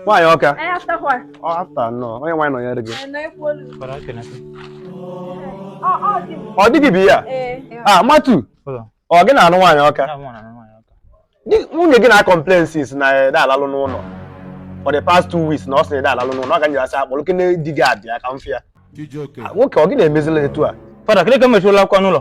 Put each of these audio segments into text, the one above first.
nwaanyị ọka ọ after nọ onye nwaanyị nọnyere gị ọ di gị bụ ihe a matu ọ gị na-anụ nwaanyị ọka nwunye gị na-acomplain sị na ede alalụ n'ụlọ for the past two weeks na ọ sị na ede alalụ n'ụlọ ọ ga nyerasị akpọrọ oku na di gị abịa ka m fịa nwoke ọ gị na-emezila etu a fada kịrịka mechirụla akwa n'ụlọ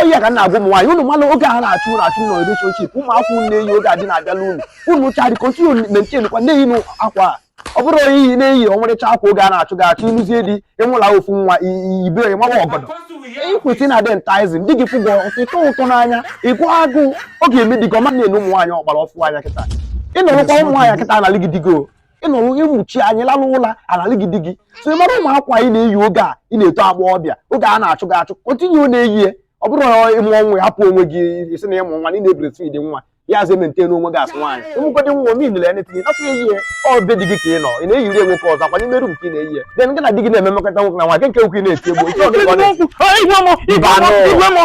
ọ ya ka m na-agwa ụmụ nwaanyị unu manụ oge ahụ a na-achụ unu achụ nọ relationship ụmụ akwa unu na-eyi oge a di na-abịala unu unu try continue maintain kwa na-eyi akwa a ọ bụrụ onye ị na-eyi ọmarịcha akwa oge a na-achụ gị achụ ị lụzie di ị mụọla ofu nwa ibe onye mawa ọgọdọ ị kwụsị na-adị enticing di gị fụgwọ ụtọ ụtọ n'anya ịgụ agụụ ọ ga-eme di gị ọma na-enu ụmụ nwaanyị ọgbara ọfụ anya kịta ị nọrụkwa ụmụ nwaanyị kịta analị gị di gị ị nọrọ onye mmuchi anya lalụ ụla analị gị di gị so ị mara ụmụ akwa ị na-eyi oge a ị na-eto agbọghọbịa oge a na-achụ gị achụ continue na-eyi ya ọ bụrụ na ị mụọ nwa ị ahapụ onwe gị ị sị na ị mụ nwa na ị na-ebreastfeed nwa ya azụ emaintain onwe gị as nwaanyị ị mụgodị nwa min na enetinye nakwa eyi ya ọ be di gị ka ị nọ ị na-eyiri ya nwoke ọzọ ọkwa n'ime room ka ị na-eyi ya then gị na di gị na-eme mmekọta nwoke na nwaanyị nke nke ukwu ị na-eti egbo nke ọ di gị ọ na-eti Igwe mọ, igwe mọ, Ibanụ. igwe mọ.